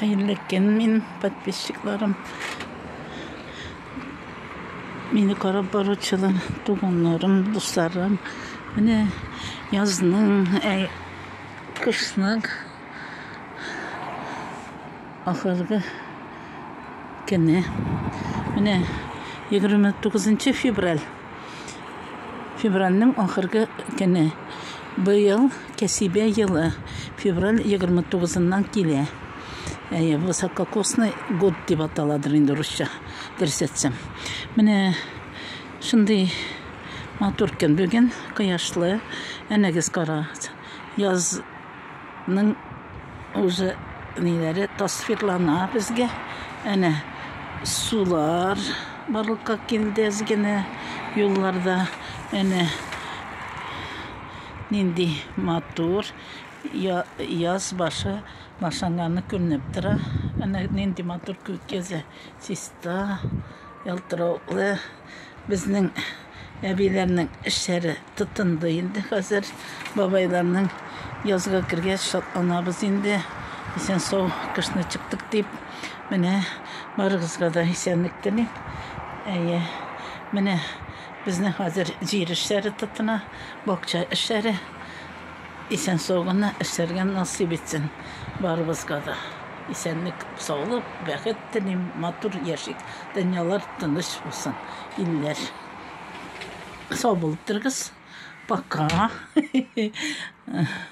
Хәерле көн мин подписчикларым. Мине карап баручылар, туганнарым, дусларым. Менә язның, ә кышның ахыргы көне. Менә 29 февраль Февральнең ахыргы көне. Быел кәсибә елы февраль 29-ннан килә. Әйе, высококосный год дип аталадыр инде урысча, дөрес әйтсәм. Менә шундый матур көн бүген, кояшлы. Әнәгез кара, яз Ның уже ниләре тасвирлана безгә. Әнә сулар барлыкка килде әзгенә юлларда. Әнә нинди матур яз башы башланганы күренеп тора. Әнә нинди матур күк йөзе, чиста, ялтыравыклы. Безнең Әбиләрнең эшләре тотынды инде хәзер. Бабайларның язга кергәч шатланабыз инде. Исән-сау кышны чыктык дип. Менә барыгызга да исәнлек телим. Әйе. Менә безнең хәзер җир эшләре тотына, бакча эшләре. Исән-сау гына эшләргә насыйп итсен барыбызга да. Исәнлек, саулык, бәхет телим. Матур яшик. Дөньялар тыныч булсын, илләр. Сау булып торыгыз. Пока.